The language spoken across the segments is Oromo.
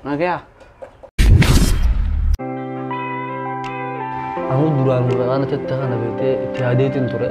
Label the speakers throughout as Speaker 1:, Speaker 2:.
Speaker 1: Nagaya.
Speaker 2: Aku duraan muraan achitti kana beektee itti yaadeetiin ture.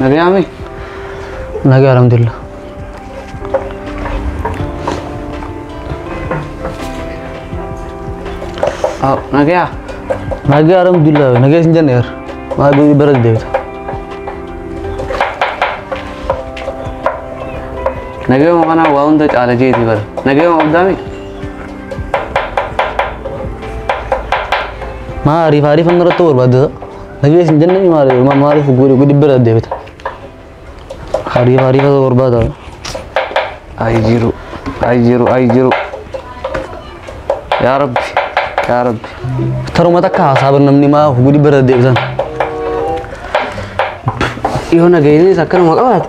Speaker 1: Nagayaame.
Speaker 2: Nagaa alhamdulillah.
Speaker 1: Nagayaa. Nagaa
Speaker 2: alhamdulillah. Nagaa isin jenneer. Maa guyyaa bara deebita.
Speaker 1: Nagayuma kana waa hunda caala jeeti bara. Nagayuma abdaami.
Speaker 2: Maa ariif ariif inni irratti barbaadda nagee isin jenne ni maali ma maaliif guri gudi bira deebita ariif ariif irratti barbaada ay jiru
Speaker 1: ay jiru ay jiru yaa rabbi yaa rabbi
Speaker 2: taruma takka haasaaba namni maa of gudi bira deebitan
Speaker 1: yoo nageenyis akkanuma qabaate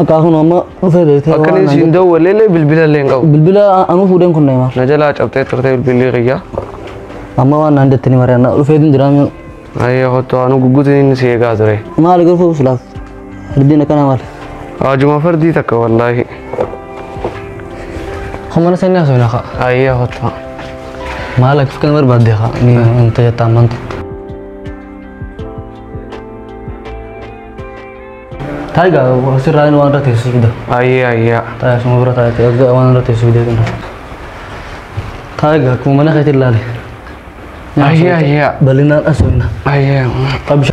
Speaker 1: Akka kun amma
Speaker 2: dhufee beektee Akka waan inni naan siin jedhu. dawwalee illee
Speaker 1: bilbila illee hin qabu. Bilbila anuu fuudheen kun
Speaker 2: Neymar. Na jalaa cabxee turte
Speaker 1: bilbilli kiyya. Amma waan
Speaker 2: naan jettanii mari'annaa dhufee hin jiraam. Ayyee kottu
Speaker 1: anuu gugguutiin inni si eegaa ture. Maali garuu silaaf?
Speaker 2: Ardiin akkanaa maali? Haajuma fardii
Speaker 1: takka wallaahi.
Speaker 2: Humana sanii haasoo na ka'a. Ayyee kottu.
Speaker 1: Maal
Speaker 2: akka kan barbaadde ka'a. Ni hin tajaajilu amanta. Taayigaa asirraa inni waan irra teessu fida. Ayyee ayyee. Taayigaa
Speaker 1: suma bira taa'ee
Speaker 2: erga waan irra teessu fidee kenna. Taayigaa akkuma mana keetiin laale. Ayyee
Speaker 1: ayyee. Bal'inaan
Speaker 2: asooyina. Ayyee.
Speaker 1: Absha.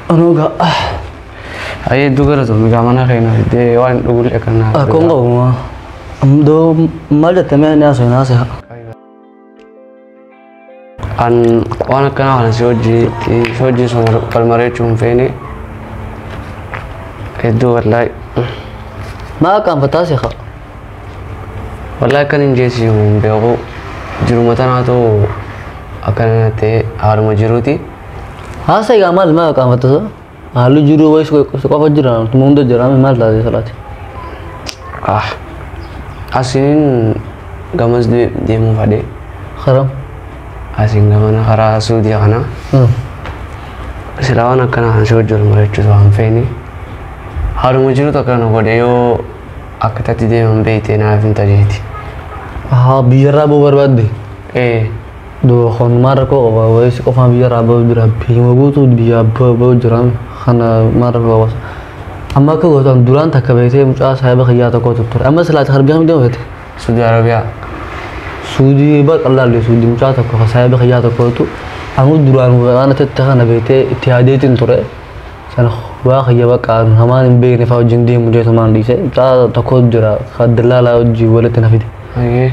Speaker 2: Anoo gaa.
Speaker 1: Ayyee iddoo galatoomii gaa mana keenya fiddee waan dhugullee kan naa. Akkoo hin qabu.
Speaker 2: Amma doo maal jettamee ni asooyina haasa'aa.
Speaker 1: An waan akkanaa kana si hojii si hojii sun wal mari'achuu hin feene hedduu wallahi
Speaker 2: Maa akkaan fataa seeqa?
Speaker 1: wallahi akkan hin jeesi hin beeku jiruma tanaatu akkana ta'e haaluma jiruuti. Haasa
Speaker 2: egaa maal maa akkaan fataa? Haalli jiruu wayis si qofa jira tuma hunda jira amma maal taate salaati. Ah.
Speaker 1: Asiin gamas de- deemuu fadhe. Karam.
Speaker 2: Asiin
Speaker 1: gamana karaa Suudiya kana. Silaa waan akkana kan si wajjin mari'achuutu waan feene. Haaluma jirutu akka nu godhe yoo akka tatti deeman beekte naaf hin tajeeti. Haa
Speaker 2: biyyarraa boo barbaadde. Ee.
Speaker 3: Duba kun maal rakkoo qaba wayis qofaan biyya irraa ba'u jira biyyuma guutuu biyyaa ba'u jira kana maal rakkoo qaba amma akka gootan duraan takka beektee mucaa saahiba kiyyaa tokko turture amma silaa takka argaa midhama fete suudi arabiyaa
Speaker 1: suudii
Speaker 3: bar qallaallee suudii mucaa tokko ka saahiba kiyyaa tokkotu amma duraan waan tette kana beektee itti yaadeetiin ture sana waa kiyya bakka hamaan hin beekne fa'aa wajjin deemu deetu maan dhiise mucaa tokko jira ka dallaalaa wajjin walitti na fide. Ayee.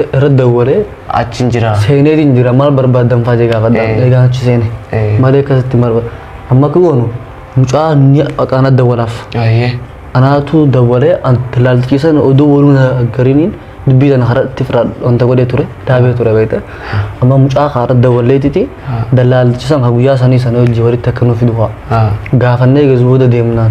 Speaker 3: irra dawwalee Achiin jira.
Speaker 1: seeneetiin jira
Speaker 3: maal barbaaddan fa'aa jee gaafadha Eh. eegaan achi seene Eh. malee akkasitti maal barba- amma akka goonu mucaa ni aqaana dawwalaaf Ayyee. anaatu dawwalee anti laalchisan oduu waluu na gariniin dubbii sana hara itti firaa wanta godhee ture daabee ture beekte amma mucaa kaara dawwalleetiti dallaalchisan ha guyyaa sanii sana hojii walitti akka nuuf fidu fa'aa Ah. gaafannee eegas booda deemnaan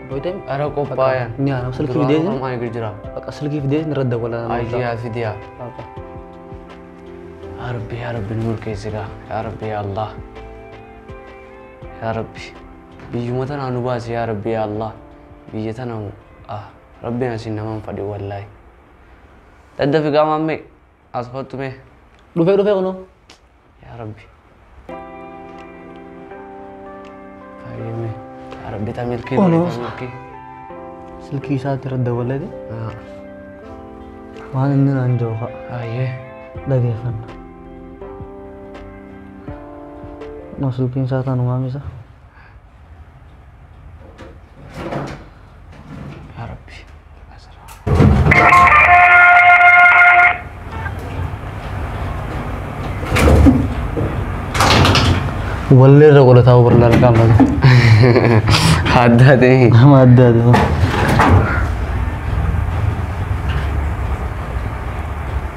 Speaker 3: Boydan Ara qophaayan.
Speaker 1: Ni haram silki Duraan fideetin.
Speaker 3: Oromaan eegar jira. Baqa
Speaker 1: silki fideetin irra
Speaker 3: dawwala. Ayyaa fidiyaa.
Speaker 1: Baqa. Yaa Rabbi yaa Rabbi nu milkeessi gaa. Yaa Rabbi yaa Allah. Yaa Rabbi. Biyyuma tanaa nu baasi yaa Rabbi yaa Allah. Biyya tana ah Rabbiin asiin nama hin fadhi wallaahi. Daddafi gaa maammee. As kottu mee. Dhufee dhufee kunoo.
Speaker 3: Yaa Rabbi.
Speaker 1: Fayyame. Yaa Rabbi ta milkii Ono. ta milkii. Silkii
Speaker 3: isaatti irra dabalee Ah, waan inni naan
Speaker 1: jiru fa'a
Speaker 3: Ayyee. dhageeffanna. Kunoo silkiin isaa taanu maamisa.
Speaker 1: Yaa Rabbi.
Speaker 3: Wallee irra godhataa barlaa lakaan laga.
Speaker 1: Addaa ta'e. Nama adda adda.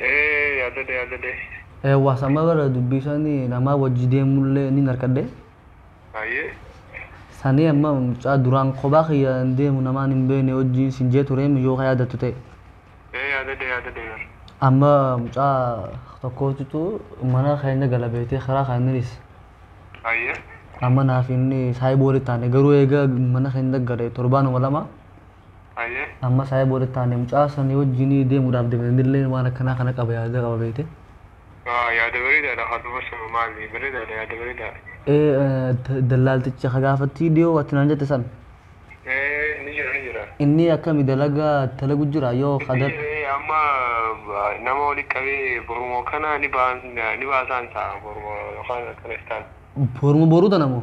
Speaker 3: Ee
Speaker 4: yaadadhe yaadadhe. Eewwa sama bara
Speaker 3: dubbiisani namaa wajji deemullee nin harkadhe. Haye.
Speaker 4: Sanii
Speaker 3: amma mucaa duraan kophaa kiyya hin deemu namaan hin beeyne wajjiin sin jee tureem yoo ka yaadattu ta'e. Ee yaadadhe
Speaker 4: yaadadhe bar. Amma
Speaker 3: mucaa tokkootitu mana keenya gala beeytee kiraa keenyanis. Haye.
Speaker 4: Amma naaf
Speaker 3: inni saahiba walitti taane garuu eega mana keenya gale torbaanuma lama. Hayyee.
Speaker 4: Amma saayee booda
Speaker 3: taane mucaa sanii wajjin deemuudhaaf deemna innillee waan akkanaa kana qaba yaada qaba beekte. Waa yaada
Speaker 4: bareedaadha haa dubbisnu maali bareedaadha yaada bareedaadha. Ee d-
Speaker 3: dallaalticha ka gaafattii dhiyoo ati naan jette san Ee ni
Speaker 4: jira ni jira. inni akkami
Speaker 3: dalagaa dalagu jira yoo Ni kadar jira ee, amma
Speaker 4: ba- nama walitti qabee borumoo kana ni baan ni baasaan ta'a borumoo yookaan akkana istaan. boruma boruu
Speaker 3: tana moo